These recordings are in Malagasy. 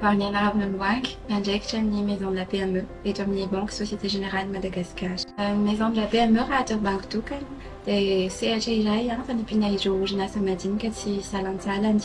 Barnianarivony Mwangi, mpiandraikitra ny Maison de la PME eto amin'ny Banky Société Générale Madagascar. Ny Maison de la PME raha atao banky tokana dia sehatra iray fanampiana ireo orinasa madinika tsy salantsalany.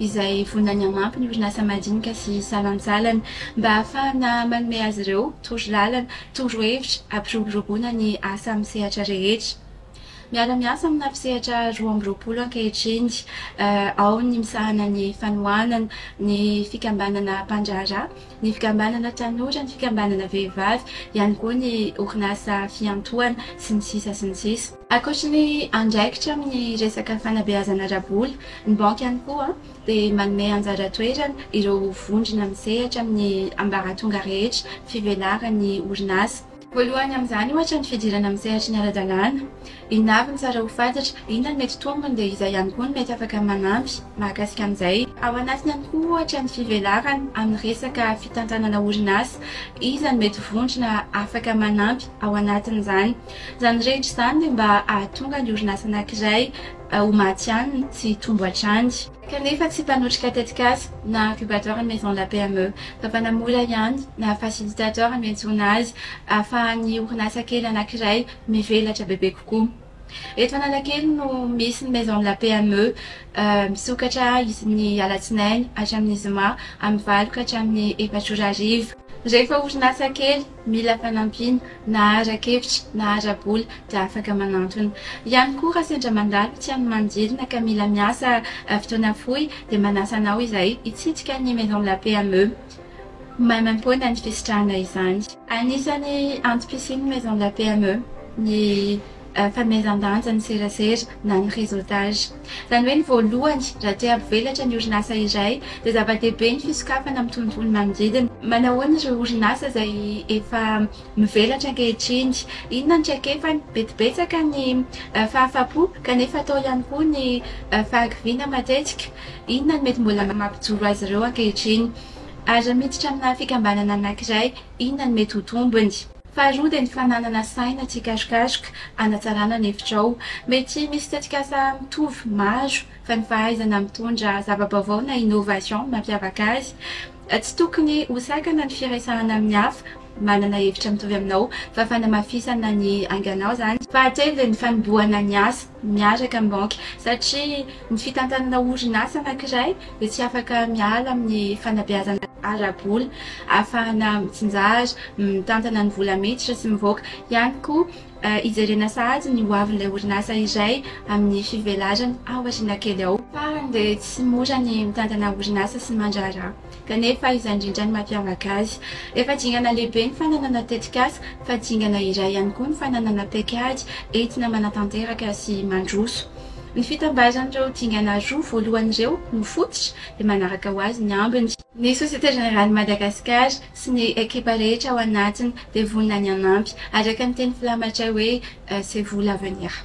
izay vonona ny hamampy ny orinasa madinika sy salantsalany mba hahafahana manome azy ireo torolalana, torohevitra hampiroboroboana ny asa amin'ny sehatra rehetra. Miara-miasa amina mpisehatra roa amby roapolo ankehitriny, ao ny misahana ny fanohanana, ny fikambanana mpandraharaha, ny fikambanana tanora, ny fikambanana vehivavy, ihany koa ny orinasa fiantohana, sy ny sisa sy ny sisa. Ankoatry ny andraikitra amin'ny resaka fanabeazana ara-bola, ny banky ihany koa dia manome anjara toerana ireo vondrona misehatra amin'ny ambaratonga rehetra fivelaran'ny orinasa. Voalohany amin'izany ohatra ny fidirana amin'ny sehatry ny ara-dalàna. Inona avy no tsara ho fantatra, inona no mety tombony dia iza ihany koa no mety afaka manampy mahakasika an'izay. Ao anatiny ihany koa ohatra ny fivelarana amin'ny resaka fitantanana orinasa. Iza no mety vondrona afaka manampy ao anatin'izany. Izany rehetra izany dia mba hahatonga ny orinasa anankiray ho maty any sy hitombo hatrany. Kanefa tsy mpanotrika tetikasa na incubateur ny Maison de la PME, fa mpanamola ihany na facilitateur no iantsoana azy, ahafahan'ny orinasa kely anankiray mivelatra bebe kokoa. Eto Analakely no misy ny Maison de la PME, misokatra isan'ny alatsinainy hatramin'ny zoma amin'ny valo ka hatramin'ny efatra ora hariva. Rehefa orinasa kely mila fanampiana na ara-kevitra na ara-bola dia afaka manantona ihany koa raha sendra mandalo tsy any Manodidina ka mila miasa fotoana fohy dia manasa anao izahay hitsidika ny Maison de la PME maimaimpoana ny fisitrahana izany. Anisan'ny antom-pisian'ny Maison de la PME ny. fanomezan-danja ny serasera na ny réseautage. Izany hoe ny voalohany, raha te hampivelatra ny orinasa iray dia zava-dehibe ny fisokafana amin'ny tontolo manodidina. Manahoana ireo orinasa izay efa mivelatra ankehitriny? Inona ny traikefany? Betibetsaka ny fahafapo kanefa atao ihany koa ny fahakiviana matetika. Inona no mety mbola mampijoro azy ireo ankehitriny? Ary raha miditra amina fikambanana anankiray, inona no mety ho tombony? Faharoa dia ny fananana saina tsikarikaroka hanatsarana ny hevitrao. Mety misy tetikasa mitovy maro fa ny fahaizana mitondra zava-baovao na innovation no mampiavaka azy. Tsy tokony ho sakana ny firesahana amin'ny hafa manana hevitra mitovy aminao fa fanamafisana ny anganao izany. Fahatelo dia ny fanombohana ny asa. miaraka amin'ny banky satria ny fitantanana orinasa anankiray dia tsy afaka miala amin'ny fanabeazana ara-bola ahafahana mitsinjara, mitantana ny vola miditra sy mivoaka ihany koa hijerena sahady ny ho avin'ilay orinasa iray amin'ny fivelarany ao aoriana kely ao. Fahiny dia tsy mora ny mitantana orinasa sy ny mandraharaha. kanefa izany indrindra no mampiavaka azy. Efa dingana lehibe ny fananana tetikasa, fa dingana iray ihany koa ny fananana paikady entina manatanteraka sy mandroso. Ny fitambaran'ireo dingana roa voalohany ireo no fototra, dia manaraka ho azy ny ambiny. Ny Société Générale Madagascar sy ny ekipa rehetra ao anatiny dia vonona ny hanampy, araka ny teny filamatray hoe C'est vous l'avenir.